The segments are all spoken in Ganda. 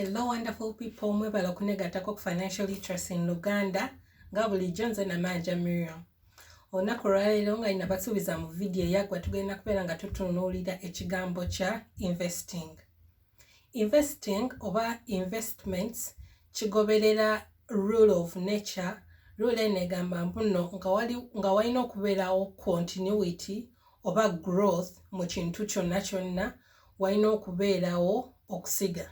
Hello wonderful people, mwebale okunegatako ku financial literacy in Luganda nga bulijjo nze Namanja Miriam. Olunaku olwaleero nga nina basuubiza mu vidiyo eyaggwa tugenda kubeera nga tutunuulira ekigambo kya investing. investing oba investments kigoberera rule of nature rule eno egamba mbuno nga walina okubeerawo continuity oba growth mu kintu kyonna kyonna walina okubeerawo okusiga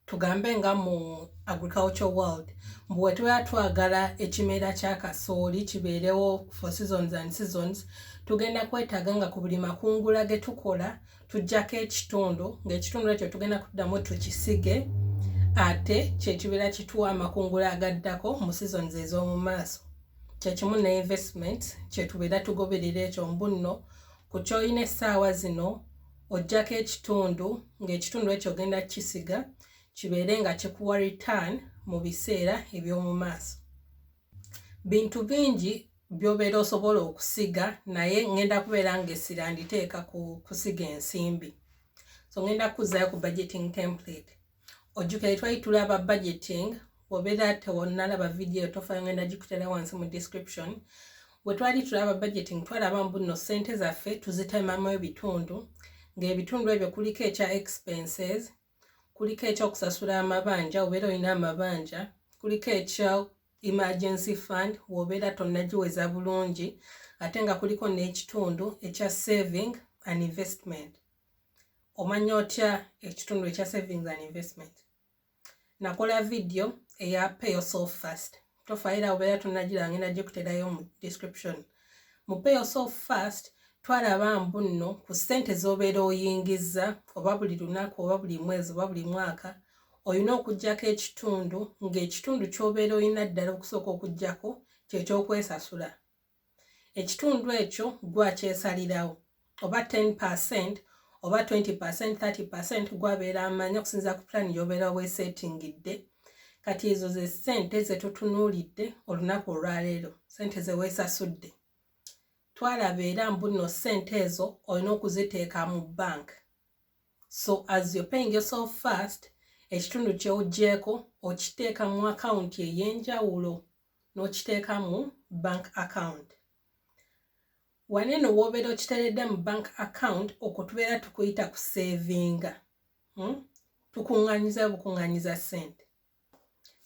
tugambe nga mu agriculture world mbu wetubeera twagala ekimera kya kasooli kibeerewo for seasons and seasons tugenda kwetaaga nga ku buli makungula ge tukola tujjako ekitundu ng'ekitundu ekyo tugenda kuddamu tukisige ate kyekibeera kituwa amakungula agaddako mu seasons ez'omu maaso kyekimu ne investment kyetubeera tugoberera ekyo mbunno ku kyolina essaawa zino ojjako ekitundu ng'ekitundu ekyo ogenda kukisiga kibeere nga kikuwa return mu biseera eby'omu maaso bintu bingi byobeera osobola okusiga naye ngenda kubeera nga essira nditeeka ku kusiga ensimbi so ngenda kukuzayo ku budgeting template ojjukire twali tulaba budgeting obeera tewonalaba vidiyo tofayo ngenda gikutera wansi mu description bwe twali tulaba budgeting twalaba mbuno ssente zaffe tuzitemamu ebitundu ng'ebitundu ebyo kuliko ekya expenses kuliko ekyokusasula amabanja obeera olina amabanja kuliko ekya emergency fund wobeera tonnagiweza bulungi ate nga kuliko n'ekitundu ekya saving and investment omanya otya ekitundu ekya savings and investment nakola vidiyo eya pay yourself first tofaira obeera tunagira ngenda gikuterayo mu description mu pay yourself first twalaba mbu nno ku ssente z'obeera oyingiza oba buli lunaku oba buli mwezi oba buli mwaka olina okugyako ekitundu ng'ekitundu ky'obeera olina ddala okusooka okugyako kyekyokwesasula ekitundu ekyo gwakyesalirawo oba 10 percent oba 20 percent 30 percent gwabeera amanya okusinza ku plan yobeera wesetingidde kati ezo ze sente zetutunuulidde olunaku olwaleero sente zewesasudde twalaba era mbuno sente ezo olina okuziteeka mu bank so as you're paying yourself first ekitundu kyewuggyeko okiteeka mu akawunti ey'enjawulo n'okiteeka mu bank account wano eno wobeera okiteredde mu bank account okwo tubeera tukuyita ku savinga hmm? tukunganyiza bukunganyiza sente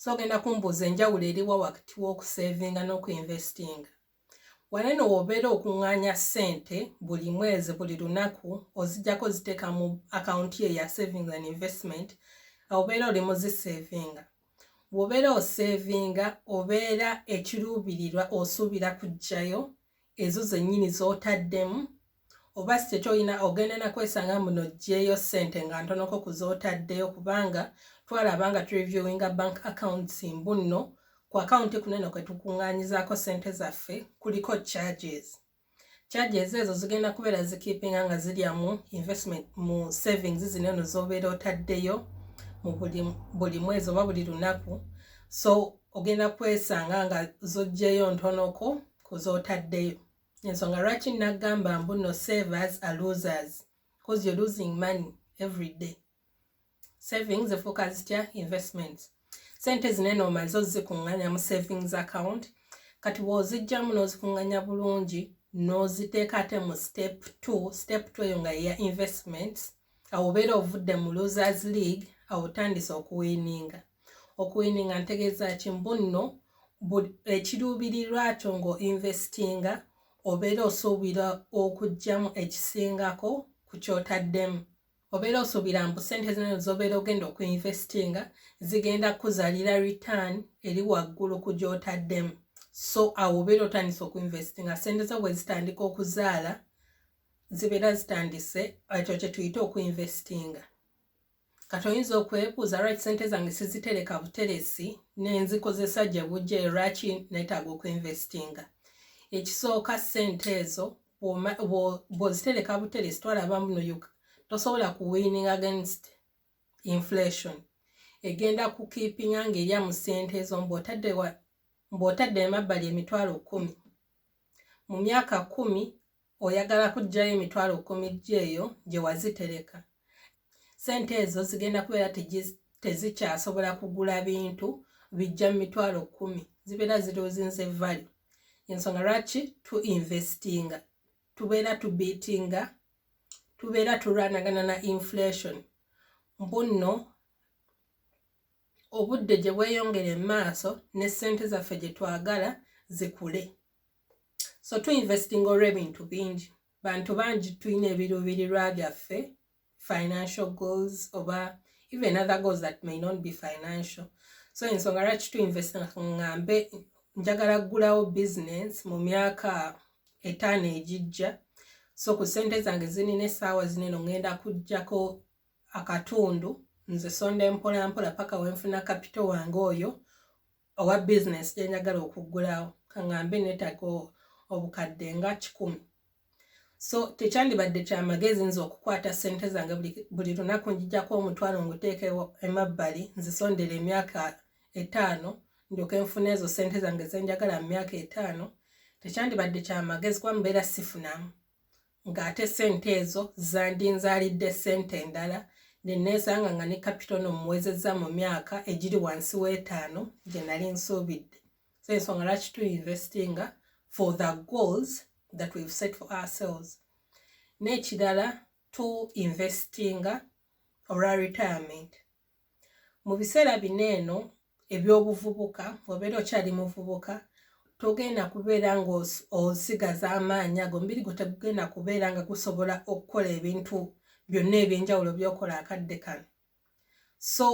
so ogenda kumbuuza enjawulo eriwa wakati w'okusavinga n'okuinvestinga Wano eno w'obeera okuŋŋaanya ssente buli mwezi buli lunaku ozijjako ziteeka mu akawunti ye ya saving and investment obeera oli muziseevinga bw'obeera oseevinga obeera ekiruubirirwa osuubira kujjayo ezo zennyini z'otaddemu oba si kyekyo olina ogenda nakwesanga muno ojjeeyo ssente nga ntonoko kuzootaddeyo kubanga twalaba nga tureviewinga bank accounts mbu nno ku akawunti kuneno kwe tukuŋŋaanyizaako ssente zaffe kuliko charges charges ezo zigenda kubeera zikiipinga nga zirya mu investment mu savings zino eno z'obeera otaddeyo mu buli mwezi oba buli lunaku so ogenda kwesanga nga zojjeeyo ntonoko kuzootaddeyo ensonga lwaki nagamba mbu no savers a losers bcause you're losing money every day savings efuuka zitya investments sente zinene omaze ozikuŋŋanya mu savings account kati bwozijjamu n'ozikuŋŋanya bulungi n'oziteeka ate mu step t step t eyo nga yeya investments awo obeera ovudde mu losers league awo otandise okuwininga okuwininga ntegeeza ki mbu nno ekiruubirirwa kyo ng'oinvestinga obeera osuubira okugyamu ekisingako ku kyotaddemu obeera osuubira mbu sente zino zobeera ogenda okuinvestinga zigenda kuzalira return eri waggulu ku gyotaddemu so awo obeera otandise okuinvestinga sente zo bwe zitandika okuzaala zibeera zitandise ekyo kyetuyita okuinvestinga kati oyinza okwebuuza lwaki sente zange sizitereka buteresi nenzikozesa gye bujja lwaki netaaga okuinvestinga ekisooka sente ezo bwozitereka buteresi twalaba muno uk tosobola kuwinning against inflation egenda kukiipinga ngaerya mu sente ezo mbaotadde emabbali emitwalo kumi mu myaka kumi oyagala kuggyayo emitwalo kkumi gyo eyo gye wazitereka sente ezo zigenda kubeera tezikyasobola kugula bintu bijja mu mitwalo kkumi zibeera zirozinze vali ensonga lwaki tu investinga tubeera tubiitinga tubeera tulwanagana na inflation mbunno obudde gye bweyongere mu maaso ne ssente zaffe gye twagala zikule so tuinvestinga olw'ebintu bingi bantu bangi tulina ebiruubirirwa byaffe financial goals oba even other goals that may not be financial so ensonga lwaki tuinvestinga ngambe njagala kugulawo business mu myaka etaano egijja so ku sente zange zinina essaawa zineno ngenda kujjako akatundu nze sonda empolampola paka wenfuna kapito wange oyo owa bizinesi gye njagala okuggulawo kaŋambe neetaaga obukadde nga kikumi so tekyandibadde kya magezi nze okukwata ssente zange buli lunaku njijako omutwalo nguteekeo emabbali nzisondera emyaka etaano ndyoke nfuna ezo ssente zange zenjagala mu myaka etaano tekyandibadde kya magezi kuba mubeera sifunamu ng'ate sente ezo zandinzaalidde sente endala neneesanga nga ne kapitono muwezezza mu myaka egiri wansi w'etaano gye nali nsuubidde so ensonga lwaki tu investinga for the goals that we've set for ourselves n'ekirala tu investinga olwa retirement mu biseera bino eno ebyobuvubuka obeera okyali muvubuka togenda kubeera ngaosigaza amaanyi ago mubiri gwe tegugenda kubeera nga gusobola okukola ebintu byonna ebyenjawulo byokola akadde kano so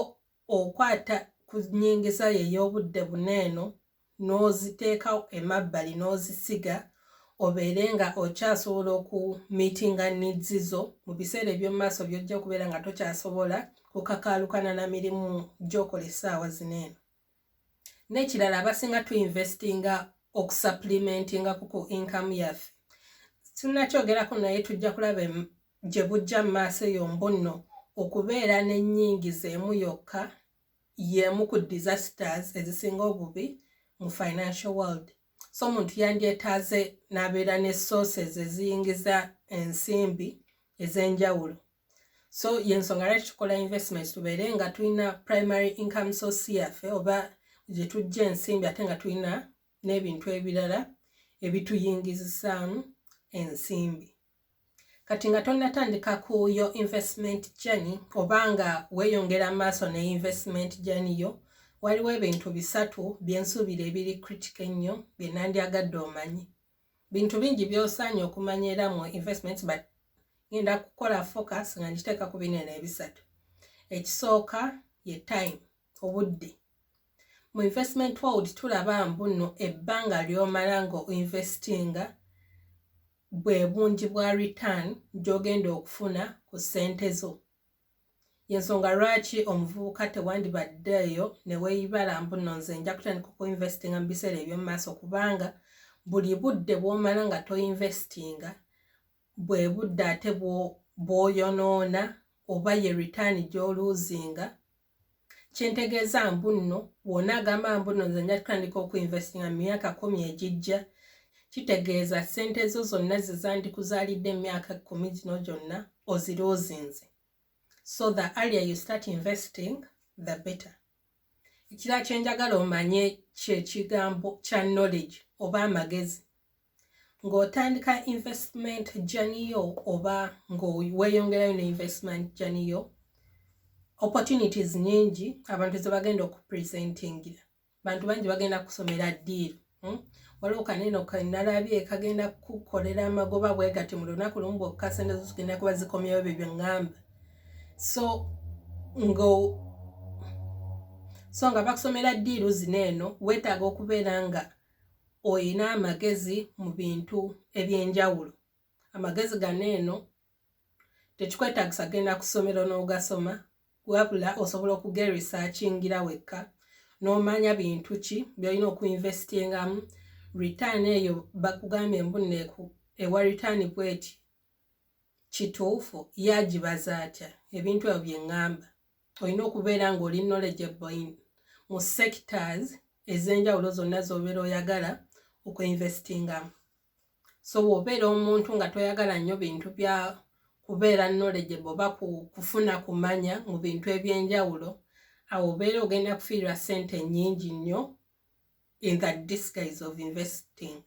okwata ku nyingiza yo ey'obudde buno eno n'oziteeka emabbali n'ozisiga obeere nga okyasobola oku meetinga needs zo mu biseera eby'omu maaso by'ojja okubeera nga tokyasobola okakaalukana na mirimu gy'okola essaawa zino eno n'ekirala abasinga tu investinga okusapulimentinga ku ku inkamu yaffe sinnakyogerako naye tujja kulaba gye bujja mu maaso eyo mbunno okubeera n'ennyingiza emu yokka yeemu ku disasters ezisinga obubi mu financial world so omuntu yandyetaaze n'abeera ne sources eziyingiza ensimbi ez'enjawulo so yensonga lwaki tukola investment tubeere nga tulina primary income source yaffe oba gye tujja ensimbi ate nga tulina n'ebintu ebirala ebituyingizisaamu ensimbi kati nga tonatandika ku yo investment journey oba nga weyongera maaso ne investment journey yo waliwo ebintu bisatu byensuubira ebiri critic ennyo bye nandyagadde omanyi bintu bingi byosaanye okumanya era mu investment but ngenda kukola focus nga ngiteeka ku binene ebisatu ekisooka ye time obudde mu investment world tulaba mbuno ebbanga lyomala nga oinvestinga bwe bungi bwa return gyogenda okufuna ku ssente zo yensonga lwaki omuvubuka tewandibaddeeyo neweeyibala mbuno nze nja kutandika okuinvestinga mu biseera eby'omu maaso kubanga buli budde bwomala nga toinvestinga bwe budde ate bwoyonoona oba ye return gyoluuzinga kyentegeeza mbu nno wona agamba mbu nno nze nja kutandika okuinvestinga mu myaka kumi egijja kitegeeza ssente zo zonna zezandikuzaalidde emyaka kumi gino gyonna oziruuzinze so the earlier you start investing the better ekira kyenjagala omanye kyekigambo kya knowledge oba amagezi ng'otandika investment journey yo oba ng'weeyongerayo ne investment journey yo opportunities nyingi abantu ze bagenda okupresentingira bantu bangi bagenda kusomera ddiiru hmm? waliwo kaneno kenalabye kagenda kukolera amagoba bwe gati mu lunaku lumu bwokka sente zo zigenda kuba zikomyawo bye byeŋŋamba so nga so nga bakusomera ddiiru zino eno weetaaga okubeera nga olina amagezi mu bintu eby'enjawulo amagezi gano eno tekikwetagisa genda ku ssomero n'ogasoma wabula osobola okuge researchingira wekka n'omanya bintu ki byolina okuinvestingamu return eyo bakugambye mbuneku ewa return bweti kituufu yagibaza atya ebintu ebyo bye ŋŋamba olina okubeera ng'oli knowledgeable in mu sectors ez'enjawulo zonna z'obeera oyagala okuinvestingamu so bw'obeera omuntu nga toyagala nnyo bintu bya kubeera knowledgeable oba kufuna kumanya mu bintu eby'enjawulo awo obeera ogenda kufiirwa ssente nnyingi nnyo in the disguise of investing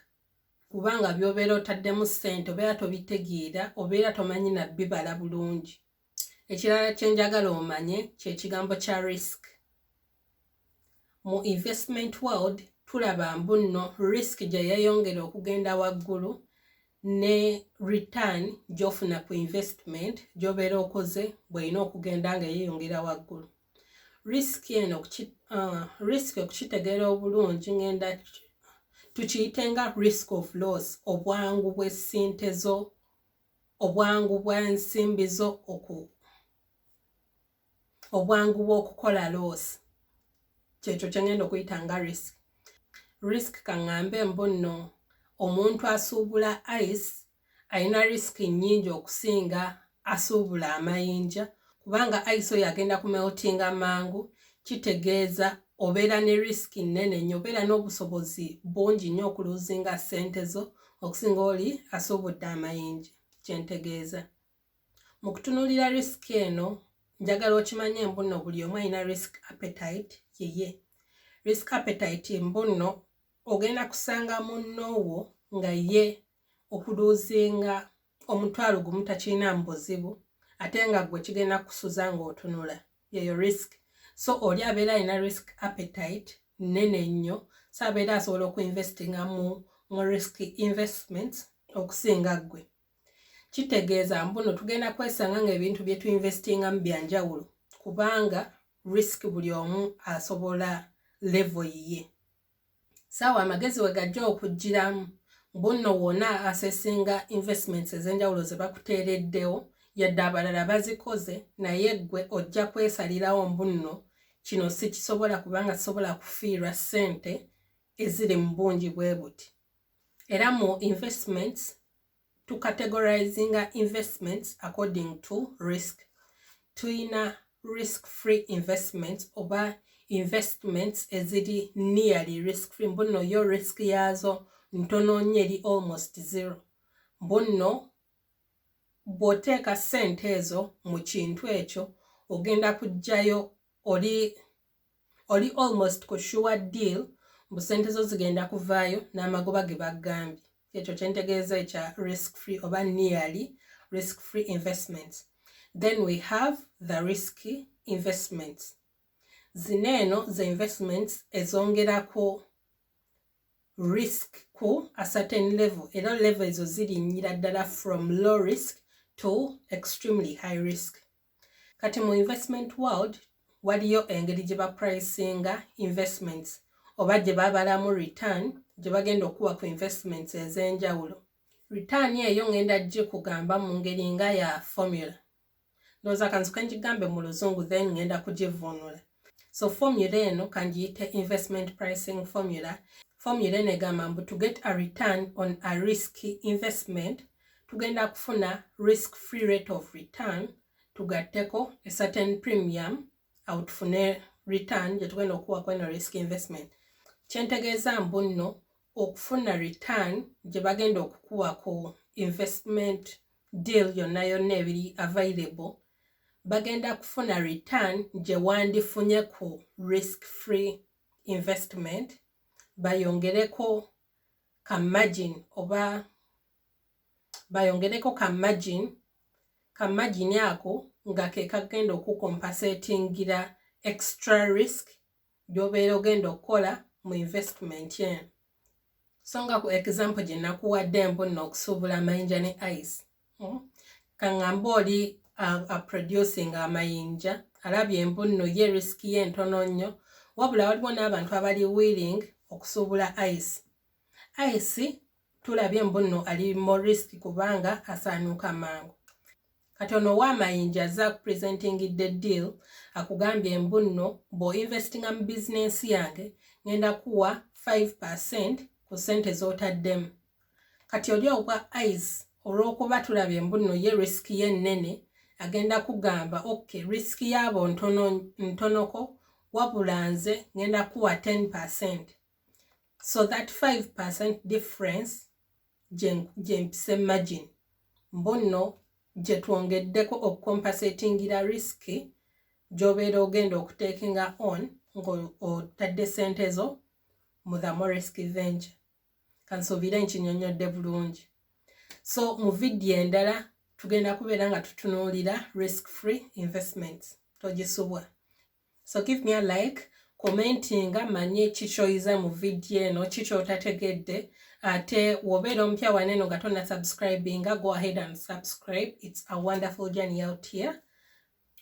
kubanga by'obeera otaddemu ssente obeera tobitegeera obeera tomanyi nabbibala bulungi ekirala kyenjagala omanye kyekigambo kya risk mu investment world tulaba mbu nno risk gye yeyongera okugenda waggulu ne return gyofuna ku investment gyobeera okoze bweyina okugenda nga yeyongera waggulu risk eno uh, risk okukitegeera obulungi ngenda tukiyite nga risk of loss obwangu bwesente zo obwangu bw'ensimbi zo oku obwangu bw'okukola loosi kyekyo kye ngenda okuyita nga risk risk kaŋŋambe mbu nno omuntu asuubula ice alina risk nnyingi okusinga asuubula amayinja kubanga ice oyo agenda ku meltinga mangu kitegeeza obeera ne risk nnene nnyo obeera n'obusobozi bungi nnyo okuluzinga ssente zo okusinga oli asuubudde amayinja kye ntegeeza mu kutunuulira risiki eno njagala okimanye embunno buli omu alina risk appetite yeye risk appetite embunno ogenda kusanga munnoowo nga ye okuluuzinga omutwalo gumu takirina mu buzibu ate nga gwe kigenda kusuza ng'otunula yeyo risk so oli abeera alina risk appetite nene nnyo so abeera asobola okuinvestinga mu mu risk investments okusinga ggwe kitegeeza mbuno tugenda kwesanga ngaebintu bye tuinvestingamu byanjawulo kubanga risk buli omu asobola levo yiye saawa amagezi we gajja okugiramu bunno wona asesinga investments ez'enjawulo ze bakuteereddewo yadde abalala bazikoze naye ggwe ojja kwesalirawo mbunno kino sikisobola kubanga sisobola kufiirwa ssente eziri mu bungi bwe buti era mu investments to categorizinga investments according to risk tuyina risk free investments oba investments eziri nearly risk free mbuno yo risk yaazo ntono nyo eri almost zero mbuno bwoteeka sente ezo mu kintu ekyo ogenda kujjayo oli oli almost ku sure deal mbu sente zo zigenda kuvaayo n'amagoba ge bagambye ekyo kyentegeeza ekya risk free oba nearly risk free investments then we have the risky investments zino eno ze investments ezongerako risk ku a certain level era level ezo zirinnyira ddala from low risk to extremely high risk kati mu investment world waliyo engeri gye bapricinga investments oba gye babalamu return gye bagenda okuwa ku investments ez'enjawulo return eyo ngenda gikugamba mu ngeri nga ya formula ndowooza kanzuka ngigambe mu luzungu then ngenda kugivuunula so formula eno kangiyite investment pricing formula formula eno egamba mbu to get a return on a risk investment tugenda kufuna risk free rate of return tugatteko a certain premium awo tufune return gyetugenda okuwa kweno risk investment kyentegeeza mbu nno okufuna return gye bagenda okukuwa ku investment deal yonna yonna ebiri available bagenda kufuna return gye wandifunye ku risk free investment bayongereko ka margin oba bayongereko ka margin ka margin ako nga ke kagenda okukompasetingira extra risk gy'obeera ogenda okukola mu investment eno so nga ku example gye nakuwadde mbu nno okusuubula amayinja ne ice hmm? kaŋŋamba oli aproducing amayinja alabye mbu nno ye risiki ye ntono nnyo wabula waliwo n'abantu abali willing okusuubula ice ice tulabye mbunno ali more risk kubanga asaanuuka mangu kati ono owaamayinja aze akupresentingidde deal akugambye mbunno bw'oinvestinga mu bizinensi yange ngenda kuwa 5 percent ku ssente z'otaddemu kati oli ogwa ice olw'okuba tulabye mbunno ye risk ye nnene agenda kugamba ok risk yaabo ntonoko wabula nze ngenda kuwa 10 percent so that 5 difference gyempisa imagine mbu nno gye twongeddeko okukompasetingira risiki gy'obeera ogenda okuteekinga on ng'otadde ssente zo mu the moresk venture kansuubire nkinyonnyodde bulungi so mu vidiyo endala tugenda kubeera nga tutunuulira risk free investments togisubwa so give me a like commentinga manye kikyoyiza mu vidiyo eno kikyotategedde ate wobeera omupya wane eno nga tonna subscribinga go ahead and subscribe its a wonderful journey out here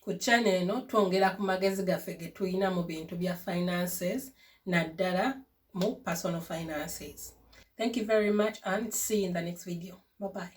ku channel eno twongera ku magezi gaffe getulina mu bintu bya finances naddala mu personal finances thank you very much and see you in the next video bye bye